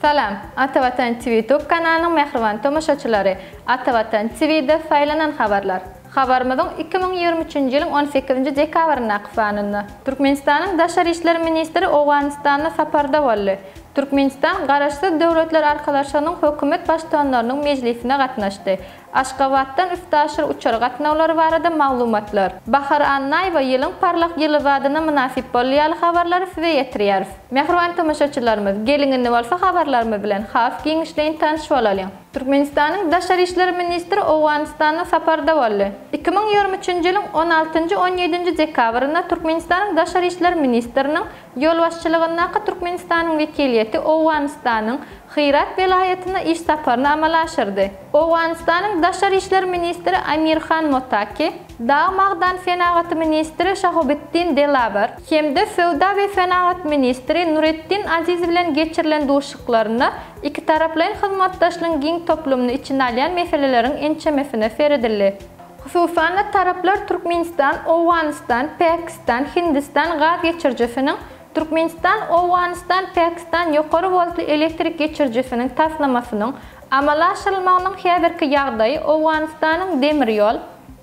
Salam, Ata Watan TV YouTube kanalynyň mähriban tomaşaçylary! Ata Watan TV-de saýlanan habarlar. Habarymyzyň iki müň ýigrimi üçünji ýylyň on sekizinji dekabryndaky sanynda. Türkmenistanyň Daşary işler ministri Owganystanda saparda boldy. Türkmenistan Garaşsyz Döwletler Arkalaşygynyň hökümet baştuanlarynyň mejlisine gatnaşdy. Aşgabatdan üstaşyr uçar gatnawlary barada maglumatlar. Bahar Annaýewa ýylyň parlak ýyly badyna mynasyp boldy ýaly habarlary size ýetirýäris. Mähriban tomaşaçylarymyz, geliň indi bolsa habarlarymyz bilen has giňişleýin tanyş bolalyň. Türkmenistanyň Daşary işler ministri Owganystanda saparda boldy. Iki müň ýigrimi üçünji ýylyň on altynjy, on ýedinji dekabrynda Türkmenistanyň Daşary işler ministriniň ýolbaşçylygyndaky Türkmenistanyň wekiliýeti Owganystanyň Hyrat welaýatyna iş saparyny amala aşyrdy. Owganystanyň daşary işler ministri Amir Han Motaki, dag magdan senagaty ministri Şahobiddin Delawer hem-de söwda we senagat ministri Nureddin Aziz bilen geçirilen duşuşyklarynda ikitaraplaýyn hyzmatdaşlygyň giň toplumyny içine alýan meseleleriň ençemesine seredildi. Hususan-da, taraplar Türkmenistan, Owganystan, Pakistan, Hindistan gaz geçirijisiniň, Türkmenistan, Owganystan, Pakistan ýokary woltly elektrik geçirijisiniň taslamasynyň amala aşyrylmagynyň häzirki ýagdaýy, Owganystanyň demir ýol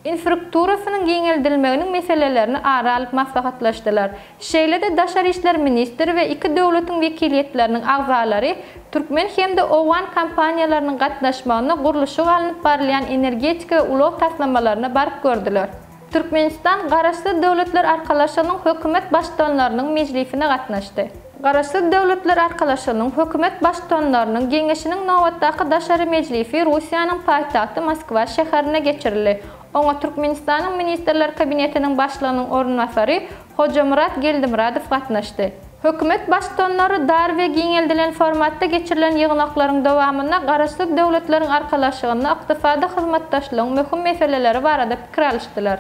infrakturasynyň giňeldilmeginiň meselelerini ara alyp maslahatlaşdylar. Şeýle-de daşary işler ministri we iki döwletiň wekiliýetleriniň agzalary türkmen hem-de owgan kompaniýalarynyň gatnaşmagynda gurluşygy alnyp barylýan energetika we ulag taslamalaryna baryp gördüler. Türkmenistan Garaşsyz Döwletler Arkalaşygynyň Hökümet Baştutanlarynyň mejlisine gatnaşdy. Garaşsyz Döwletler Arkalaşygynyň Hökümet Baştutanlarynyň geňeşiniň nobatdaky daşary mejlisi Russiýanyň paýtagty Moskwa şäherinde geçirildi. Oňa Türkmenistanyň Ministrler Kabinetiniň Başlygynyň orunbasary Hojamyrat Geldimyradow gatnaşdy. Hökümet baştutanlary dar we giňeldilen formatda geçirilen ýygnaklaryň dowamynda Garaşsyz Döwletleriň Arkalaşygynda ykdysady hyzmatdaşlygyň möhüm meseleleri barada pikir alyşdylar.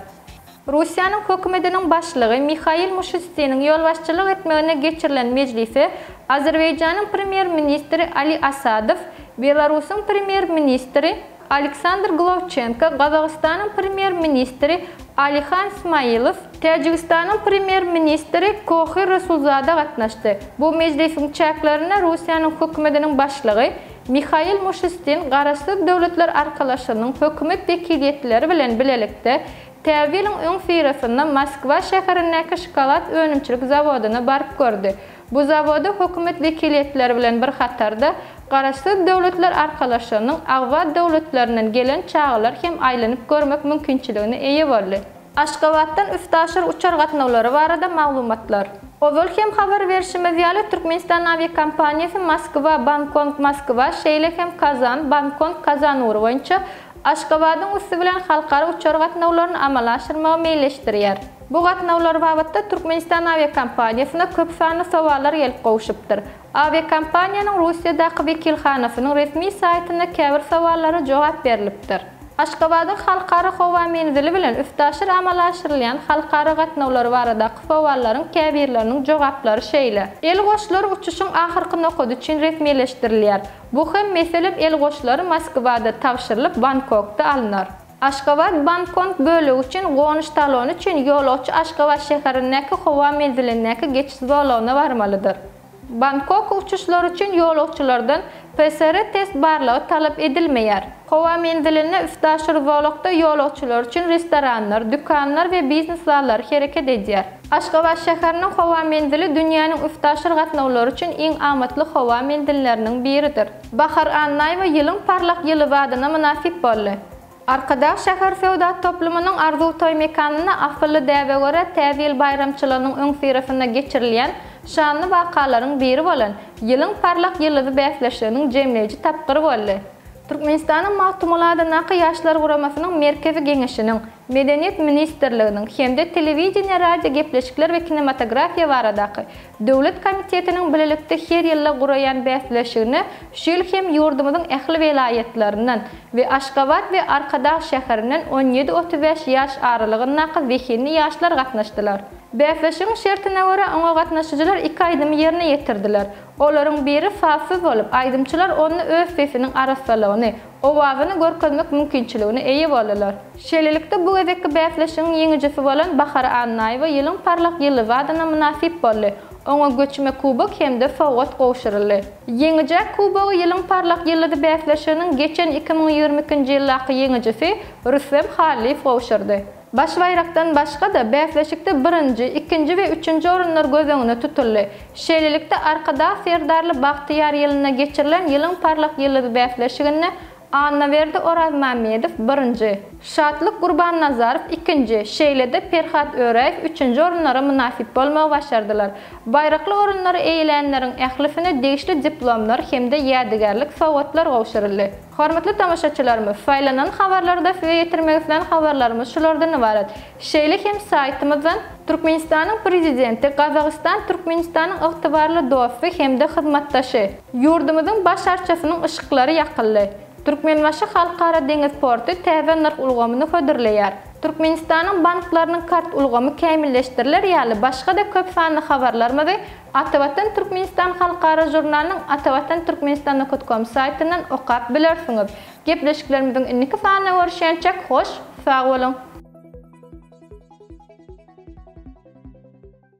Russiýanyň Hökümetiniň Başlygy Mihail Mişustiniň ýolbaşçylyk etmeginde geçirilen mejlise Azerbaýjanyň Premýer-ministri Ali Asadow, Belarusyň Premýer-ministri, Aleksandr Glowçenko, Gazagystanyň Premýer-ministri Alihan Smailow, Täjigistanyň Premýer-ministri Kohyr Rasulzada gatnaşdy. Bu mejlisiň çäklerinde Russiýanyň Hökümetiniň Başlygy Mihail Mişustin Garaşsyz Döwletler Arkalaşygynyň hökümet wekiliýetleri bilen bilelikde täze ýylyň öňüsyrasynda Moskwa şäherindäki şokolad önümçilik zawodyna baryp gördi. Bu zawoda hökümet wekiliýetleri bilen bir hatarda, Garaşsyz Döwletler Arkalaşygynyň agza döwletlerinden gelen çagalar hem aýlanyp görmek mümkinçiligine eýe boldy. Aşgabatdan üstaşyr uçar gatnawlary barada maglumatlar. Ozal hem habar berşimiz ýaly, Türkmenistan awiakompaniýasy Moskwa, Bankong, Moskwa, şeýle hem Kazan, Bankong, Kazan ugry boýunça Aşgabadyň üsti bilen halkara uçar gatnawlaryny amala aşyrmagy meýilleşdirýär. Bu gatnawlar babatda Türkmenistan awiakompaniýasyna köp sanly sowallar gelip gowşupdyr. Awiakompaniýanyň Russiýadaky wekilhanasynyň resmi saýtynda käbir sowallara jogap berlipdir. Aşgabadyň Halkara howa menzili bilen üstaşyr amala aşyrylýan halkara gatnawlary baradaky sowallaryň käbirleriniň jogaplary şeýle. Elgoşlar uçuşyň ahyrky nokady üçin resmileşdirilýär. Bu hem, meselem, elgoşlary Moskwada tabşyrylyp, Bangkokda alnar. Aşgabat Bangkong bölegi üçin gonuş talony üçin ýolagçy Aşgabat şäherindäki howa menzilindäki geçiş zolagyna barmalydyr. Bangkok uçuşlary üçin ýolagçylardan PCR test barlagy talap edilmeýär. Howa menzilinde üstaşyr zolakda ýolagçylar üçin restoranlar, dükanlar we biznes zallary hereket edýär. Aşgabat şäheriniň howa menzili dünýäniň üstaşyr gatnawlary üçin iň amatly howa menzilleriniň biridir. Bahar Annaýewa Ýylyň parlak ýyly adyna mynasyp boldy. Arkadag şäher söwda toplumynyň Arzuw toý mekanynda asylly däbe görä Täze ýyl baýramçylygynyň öňüsyrasynda geçirilýän şanly wakalaryň biri bolan Ýylyň parlak ýyldyzy bäsleşiginiň jemleýji tapgyry boldy. Türkmenistanyň Magtymguly adyndaky Ýaşlar guramasynyň Merkezi Geňeşiniň, Medeniýet ministrliginiň hem-de Telewideniýe, radiogepleşikler we kinematografiýa baradaky döwlet komitetiniň bilelikde her ýylda guraýan bäsleşigine şu ýyl hem ýurdumyzyň ähli welaýatlaryndan we Aşgabat we Arkadag şäherinden on ýedi-otuz bäş ýaş aralygyndaky zehinli ýaşlar gatnaşdylar. Bäsleşigiň şertine görä, oňa gatnaşyjylar iki aýdymy ýerine ýetirdiler. Olaryň biri sazsyz bolup, aýdymçylar onda öz sesiniň arassalygyny, owazyny görkezmek mümkinçiligine eýe boldular. Şeýlelikde, bu gezekki bäsleşigiň ýeňijisi bolan Bahar Annaýewa ýylyň parlak ýyldyzy adyna mynasyp boldy, oňa göçme kubok hem-de sowgat gowşuryldy. Ýeňijä kubogy Ýylyň parlak ýyldyzy bäsleşiginiň geçen iki müň ýigrimi ikinji ýyldaky ýeňijisi Rüstem Hallyýew gowşurdy. Baş baýrakdan başga-da, bäsleşikde birinji, ikinji we üçünji orunlar göz öňüne tutuldy. Şeýlelikde, Arkadag Serdarly bagtyýar ýylynda geçirilen Ýylyň parlak ýyldyzy bäsleşiginde Annaberdi Orazmämmedow, birinji, Şatlyk Gurbannazarow, ikinji, şeýle-de Perhat Öräýew, üçünji orunlara mynasyp bolmagy başardylar. Baýrakly orunlary eýelänleriň ählisine degişli diplomlar hem-de ýädygärlik sowgatlar gowşuryldy. Hormatly tomaşaçylarymyz, saýlanan habarlarda size ýetirmek islän habarlarymyz şulardan ybarat. Şeýle hem saýtymyzdan. Türkmenistanyň Prezidenti Gazagystan Türkmenistanyň ygtybarly dosty hem-de hyzmatdaşy. Ýurdumyzyň baş arçasynyň yşyklary ýakyldy. Türkmenbaşy Halkara deňiz porty täze nyrh ulgamyny hödürleýär. Türkmenistanyň banklarynyň kart ulgamy kämilleşdiriler ýaly başga-da köp sanly habarlarymyzy Atavatan Türkmenistan halkara žurnalynyň Atavatan Türkmenistan Nokut Kom saýtyndan okap bilersiňiz. Gepleşiklerimiziň indiki sanyna görüşýänçäk hoş sag boluň!